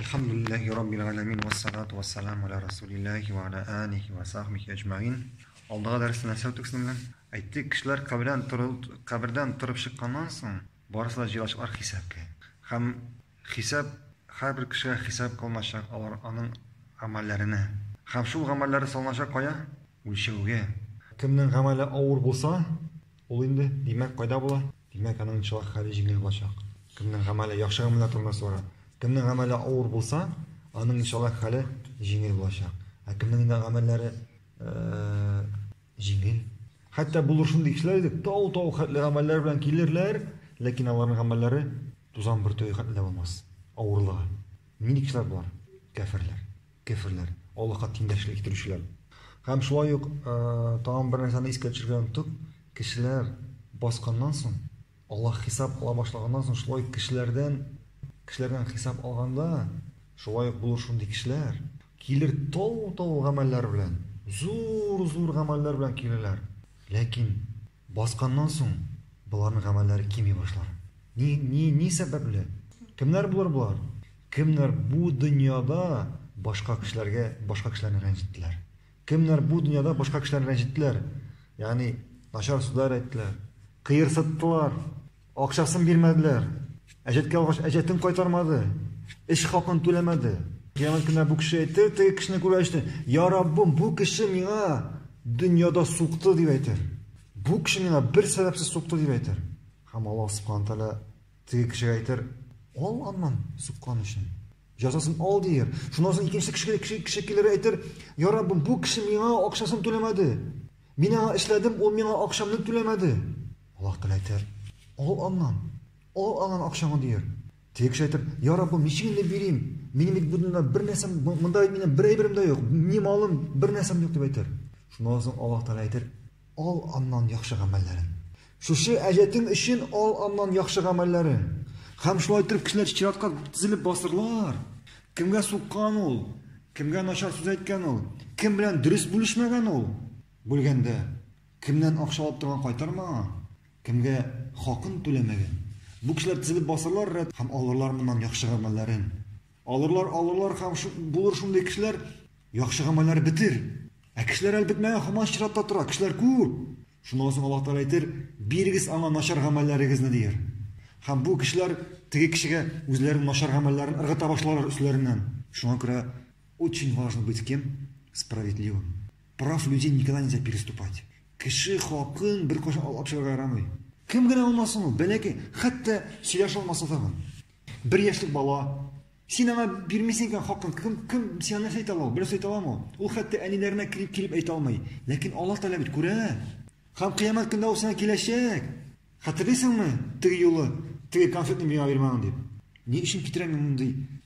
Әлхәмдүлилләһи раббил галәмин вә салату вә саламу ала рәсүлилләһи вә ала алихи вә сахбихи әҗмәгин. Алдагы дәрестә нәрсә үттек соң белән? Әйттек, кешеләр кабердән торыл, кабердән торып чыкканнан соң, барысы да җыелачаклар хисабкә. Һәм хисап, һәрбер кешегә хисап кылыначак алар, аның гамәлләренә. Һәм шул гамәлләре салыначак кая? үлчәүгә. Кемнең гамәле авыр булса, ул инде, димәк, кайда була? Димәк, аның иншаллаһ хәле җиңел булачак. Кемнең гамәле, яхшы гамәлләр турында сора. Кемнең гамәле авыр булса, аның иншаллаһ хәле җиңел булачак. Ә кемнең инде гамәлләре җиңел. Хәтта булыр шундый кешеләр иде, тау-тау хәтле гамәлләр белән килерләр, ләкин аларның гамәлләре тузан бөртеге хәтле дә булмас. Авырлыгы. Нинди кешеләр болар? Кәферләр. Кеферләр, Аллаһка тиңдәшлек китерүчеләр. Һәм шулай ук тагын бер нәрсәне искә төшергә оныттык, кешеләр басканнан соң, Аллаһ хисап ала башлаганнан соң, шулай ук кешеләрдән, кешеләрдән хисап алганда, шулай ук булыр шундый кешеләр, килер тау-тау гамәлләр белән, зур-зур гамәлләр белән килерләр, ләкин Басканнан соң боларның гамәлләре кими башлар. Ни, ни, ни сәбәпле? Кемнәр булыр болар? Кемнәр бу дөньяда башка кешеләргә, башка кешеләрне рәнҗеттеләр? Кемнәр бу дөньяда башка кешеләрне рәнҗеттеләр? Ягъни, начар сүзләр әйттеләр, кыерсыттылар. Акчасын бирмәделәр. Әҗәткә алгач, әҗәтен кайтармады. Эш хакын түләмәде. Кыямәт көнендә бу кеше әйтер, теге кешене күрәчне, Я Раббым, бу кеше миңа дөньяда сукты, дип әйтер. Бу кеше миңа бер сәбәпсез сукты, дип әйтер. Һәм Аллаһ Субхаһу Тәгалә теге кешегә әйтер, Ал аннан суккан өчен. Җәзасын ал дияр. Шуннан соң икенче кеше, кеше, кеше килер әйтер, Я Раббым, бу кеше миңа акчасын түләмәде. Мин аңа эшләдем, ул миңа акчамны түләмәде. Аллаһ Тәгалә әйтер, Ал аннан, ал аннан акчаңны, дияр. Теге кеше әйтер, Я Раббым, ничек инде бирим? Минем бит бу дөньяда бер нәрсәм, монда бит минем бер әйберем дә юк, ни малым, бер нәрсәм юк, дип әйтер. Шуннан соң Аллаһ Тәгалә әйтер, Ал аннан яхшы гамәлләрен. Шушы әҗәтең өчен ал аннан яхшы гамәлләрен. Һәм шулай итеп кешеләр чиратка тезелеп басырлар. Кемгә суккан ул? Кемгә начар сүз әйткән ул? Кем белән дөрес бүлешмәгән ул? Бүлгәндә. Кемнән акча алып торган кайтармаган, кемгә хакын түләмәгән. Бу кешеләр тезелеп басарлар рәт һәм алырлар моннан яхшы гамәлләрен. Алырлар, алырлар һәм булыр шундый кешеләр, яхшы гамәлләр бетер. Ә кешеләр әле бетмәгән һаман чиратта тора, кешеләр күп. Шуннан соң Аллаһ Тәгалә әйтер, бирегез аңа начар гамәлләрегезне, дияр. Һәм бу кешеләр теге кешегә үзләренең начар гамәлләрен ыргыта башларлар өсләреннән. Шуңа күрә очень важно быть кем? Справедливым. Прав людей никогда нельзя переступать. Кеше хакын беркайчан алып чыгарга ярамый. Кем генә алмасын ул, бәләкәй, хәтта сөйләшә алмаса тагын. Бер яшьлек бала, син аңа бирмисең икән хакын, кем, кем сиңа нәрсә әйтә ала, берсе әйтә аламы? Ул хәтта әниләренә килеп, килеп әйтә алмый. Ләкин Аллаһ Тәгалә бит күрә. Һәм кыямәт көндә ул сиңа киләчәк. Хәтерлисеңме, теге юлы, теге конфетны миңа бирмәгән дип. Ни өчен китерәм мин мондый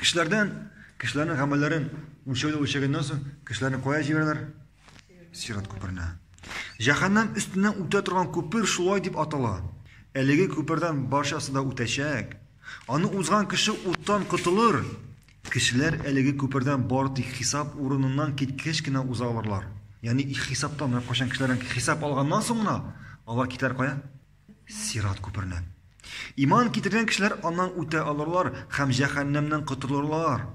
Кешеләрдән, кешеләрнең гамәлләрен үлчәүдә үлчәгәннән соң, кешеләрне кая җибәрәләр? Сират күперенә. Җәһәннәм өстеннән үтә торган күпер шулай дип атала. Әлеге күпердән барчасы да үтәчәк. Аны узган кеше уттан котылыр. Кешеләр әлеге күпердән бары тик хисап урыныннан киткәч кенә уза алырлар. Ягъни хисаптан, кайчан кешеләрдән хисап алганнан соң гына алар китәр кая? Сират күперне. Иман китергән кешеләр аннан үтә алырлар һәм җәһәннәмнән котырылырлар.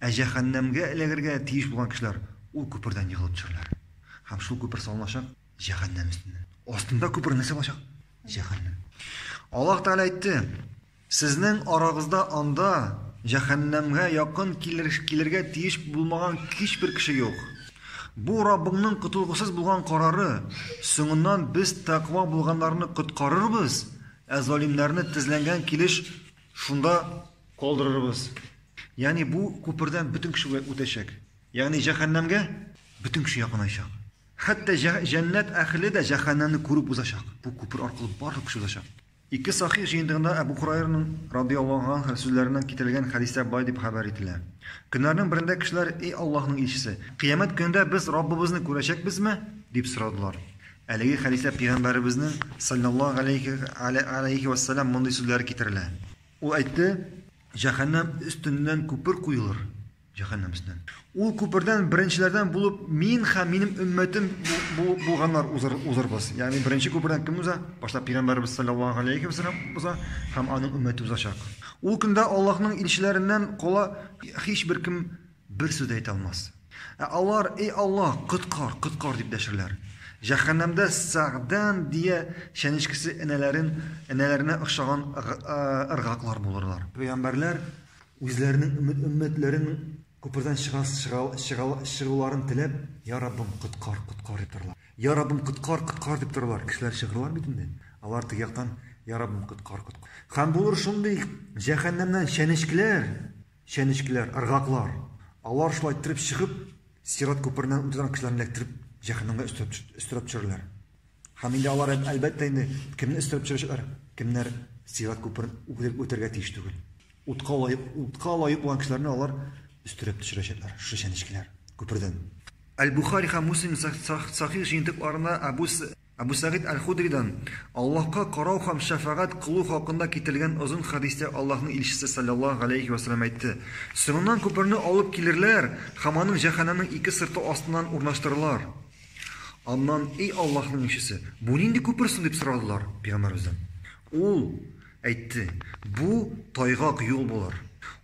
Ә җәһәннәмгә эләгергә тиеш булган кешеләр ул күпердән егылып төшәрләр. Һәм шул күпер салыначак җәһәннәм өстеннән. Астында күпер нәрсә булачак? Җәһәннәм. Аллаһ Тәгалә әйтте. Сезнең арагызда анда җәһәннәмгә якын килергә тиеш булмаган һичбер кеше юк. Бу Раббыңның котылгысыз булган карары, соңыннан без тәкъва булганнарны коткарырбыз, ә залимнәрне тезләнгән килеш шунда калдырырбыз. Ягъни бу күпердән бөтен кеше үтәчәк. Ягъни җәһәннәмгә бөтен кеше якынайчак. Хәтта җәннәт әһеле дә җәһәннәмне күреп узачак. Бу күпер аркылы барлык кеше узачак. Ике Сахих җыентыгында Әбү Һурайраның, радыйяллаһу анһ, сүзләреннән китерелгән хәдистә болай дип хәбәр ителә, Көннәрнең берендә кешеләр, Эй Аллаһның илчесе! Кыямәт көнендә без Раббыбызны күрәчәкбезме? дип сорадылар. Әлеге хәдистә Пәйгамбәребезнең, салләллаһу галәйһи галәйһи вә сәлам, мондый сүзләре китерелә. Ул әйтте, Җәһәннәм өстеннән күпер куелыр, Җәһәннәм өстеннән. Ул күпердән беренчеләрдән булып мин һәм минем өммәтем булганнар узырбыз. Ягъни беренче күпердән кем уза? Башта пәйгамбәрбез саллаллаһу алейхи ва саллям уза һәм аның өммәте узачак. Ул көндә Аллаһның илчеләреннән кала һичбер кем бер сүз дә әйтә алмас. Ә алар, эй Аллаһ, коткар, коткар дип дәшерләр. Җәһәннәмдә Сәгъдан дия чәнечкесе энәләрен, энәләренә охшаган ыргаклар булырлар. Пәйгамбәрләр Үзләренең өмет-өммәтләрен күпердән чыгас чыгал чыгал чыгуларын теләп, я Раббым, коткар, коткар дип торалар. Я Раббым, коткар, коткар дип торалар. Кешеләр чыгырлар бит инде. Алар теге яктан, я Раббым, коткар, коткар. Һәм булыр шундый җәһәннәмнән чәнечкеләр, чәнечкеләр, ыргаклар. Алар шулай иттереп чыгып, сират күпереннән үтә торган кешеләрне эләктереп, җәһәннәмгә өстерәп өстерәп төшерәләр. Һәм инде алар, әлбәттә, инде кемне өстерәп төшерәчәкләр, кемнәр сират күперен үтәргә тиеш түгел. Утка лаек, утка лаек булган кешеләрне алар өстерәп төшерәчәкләр, шушы чәнечкеләр, күпердән. Әл-Бухари һәм Муслим Сахих җыентыкларында Әбу, Әбу Сәгыйд Әл-Худридан, Аллаһка карау һәм шәфәгать кылу хакында китерелгән озын хәдистә Аллаһның Илчесе салләллаһу галәйһи вә сәлләм әйтте, Соңыннан күперне алып килерләр һәм аның җәһәннәмнең ике сырты астыннан урнаштырырлар. Аннан, Эй Аллаһның Илчесе, бу нинди күпер соң? дип сорадылар Пәйгамбәребездән. Ул. Әйтте, Бу, тайгак юл булыр.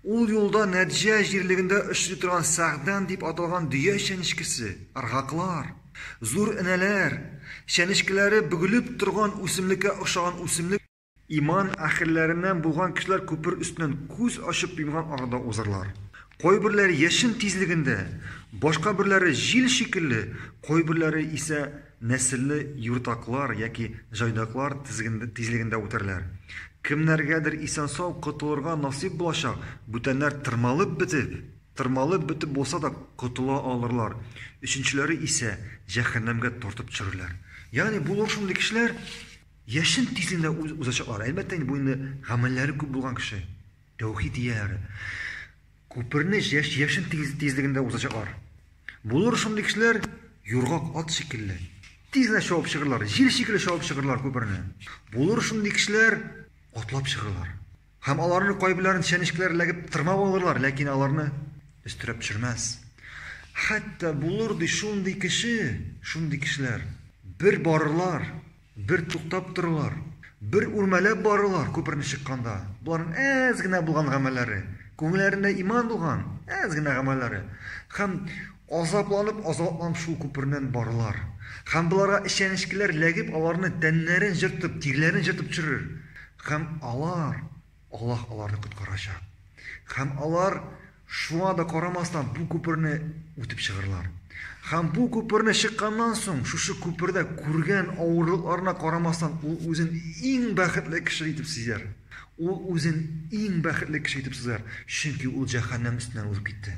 Ул юлда Нәджә җирлегендә очрый торган сәгъдән дип аталган дөя чәнечкесе, ыргаклар, зур энәләр, чәнечкеләре бөгелеп торган үсемлеккә охшаган үсемлек, иман әһелләреннән булган кешеләр күпер өстеннән күз ачып йомган арада узарлар. Кайберләре яшен тизлегендә, башка берләре җил шикелле, кайберләре исә. Нәселле юртаклар яки җайдаклар тизлегендә үтәрләр. Кемнәргәдер исән-сау котылырга насыйп булачак, бүтәннәр тырмалып бетеп, тырмалып бетеп булса да котыла алырлар, өченчеләре исә җәһәннәмгә тартып төшерерләр. Ягъни булыр шундый кешеләр, яшен тизлегендә узачаклар. Әлбәттә инде, бу инде гамәлләре күп булган кеше, тәүхид ияләре. Күперне яшен тизлегендә узачаклар. Булыр шундый кешеләр, юргак ат шикелле. Тиз генә чабып чыгырлар, җил шикелле чабып чыгырлар күперне. Булыр шундый кешеләр, атлап чыгырлар. Һәм аларны кайберләрен чәнечкеләр эләгеп тырмап алырлар, ләкин аларны өстерәп төшермәс. Хәтта булыр ди шундый кеше, шундый кешеләр, бер барырлар, Бер туктап торалар, бер үрмәләп баралар күперне чыкканда. Боларның әз генә булган гамәлләре, күңелләрендә иман булган әз генә гамәлләре. Хәм азапланып, азапланып шул күпернән баралар. Хәм боларга эчәнечкеләр ләгеп аларны тәннәрен җыртып, тирләрен җыртып төшерер. Хәм алар Аллаһ аларны коткарачак. Һәм алар шуңа да карамастан бу күперне үтеп чыгырлар. Һәм бу күперне чыкканнан соң, шушы күпердә күргән авырлыкларына карамастан, ул үзен иң бәхетле кеше итеп сизәр. Ул үзен иң бәхетле кеше итеп сизәр, чөнки ул җәһәннәм өстеннән узып китте.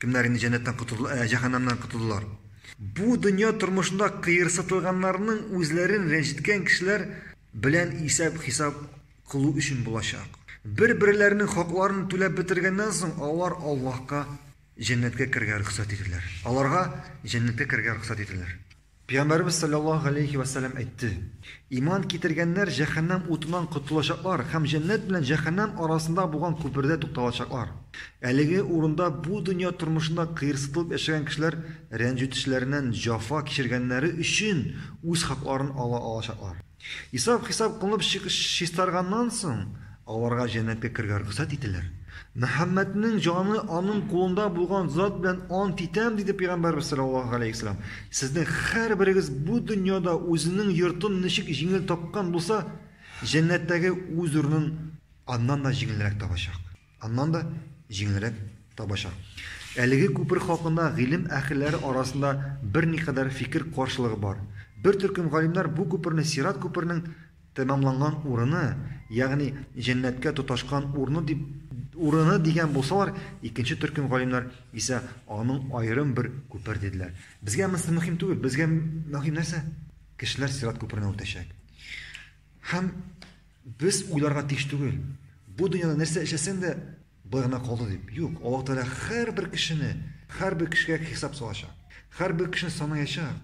Кемнәр инде җәннәттән котылды, ә, җәһәннәмнән котылдылар? Бу дөнья тормышында кыерсытылганнарның үзләрен рәнҗеткән кешеләр белән исәп-хисап кылу өчен булачак. Бер-берләренең хакларын түләп бетергәннән соң, алар Аллаһка җәннәткә керергә рөхсәт ителер. Аларга җәннәткә керергә рөхсәт ителер. Пәйгамбәребез салләллаһу галәйһи вә сәлләм әйтте, Иман китергәннәр җәһәннәм утыннан котылачаклар һәм җәннәт белән җәһәннәм арасында булган күпердә тукталачаклар. Әлеге урында бу дөнья тормышында кыерсытылып яшәгән кешеләр рәнҗетүчеләреннән җафа кичергәннәре өчен үз хакларын ала алачаклар. Исап-хисап кылынып чистарганнан соң, аларга җәннәткә керергә рөхсәт ителер. Мөхәммәднең җаны аның кулында булган зат белән ант итәм, диде пәйгамбәрбез саллаллаһу алейһи вәсәлләм. Сезнең һәрберегез бу дөньяда үзенең йортын ничек җиңел тапкан булса, җәннәттәге үз урынын аннан да җиңелрәк табачак. Аннан да җиңелрәк табачак. Әлеге күпер хакында гыйлем әһелләре арасында берникадәр фикер каршылыгы бар. Бер төркем галимнәр бу күперне сират күперенең тәмамланган урыны, ягъни җәннәткә тоташкан урыны дип урыны дигән булсалар, икенче төркем галимнәр исә аның аерым бер күпер диделәр. Безгә монысы мөһим түгел, безгә мөһим нәрсә? Кешеләр сират күперенә үтәчәк. Һәм Без уйларга тиеш түгел, бу дөньяда нәрсә эшләсәң дә, болай гына калды дип. Юк, Аллаһ Тәгалә һәрбер кешене, һәрбер кешегә хисап салачак. Һәрбер кешене санаячак.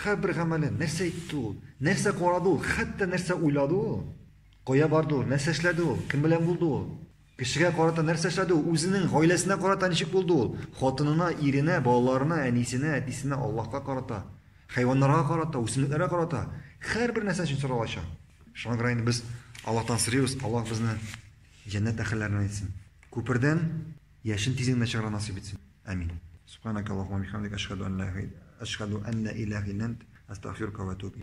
Һәрбер гамәлен, нәрсә әйтте ул, нәрсә карады ул, хәтта нәрсә уйлады ул, кая барды ул, нәрсә эшләде ул, кем белән булды ул. Кешегә карата нәрсә эшләде ул? Үзенең гаиләсенә карата ничек булды ул? Хатынына, иренә, балаларына, әнисенә, әтисенә, Аллаһка карата, хайваннарга карата, үсемлекләргә карата, һәрбер нәрсә өчен сорау ача. Шуңа күрә инде без Аллаһтан сорыйбыз, Аллаһ безне җәннәт әһелләреннән итсен. Күпердән яшен тиз генә чыгарга насыйп итсен. Амин. Субханакаллаһума ва бихамдик, әшһәдү ан ла ил, әшһәдү аннә илаһ илант, әстәгъфирүкә ва әтүбү иләйк.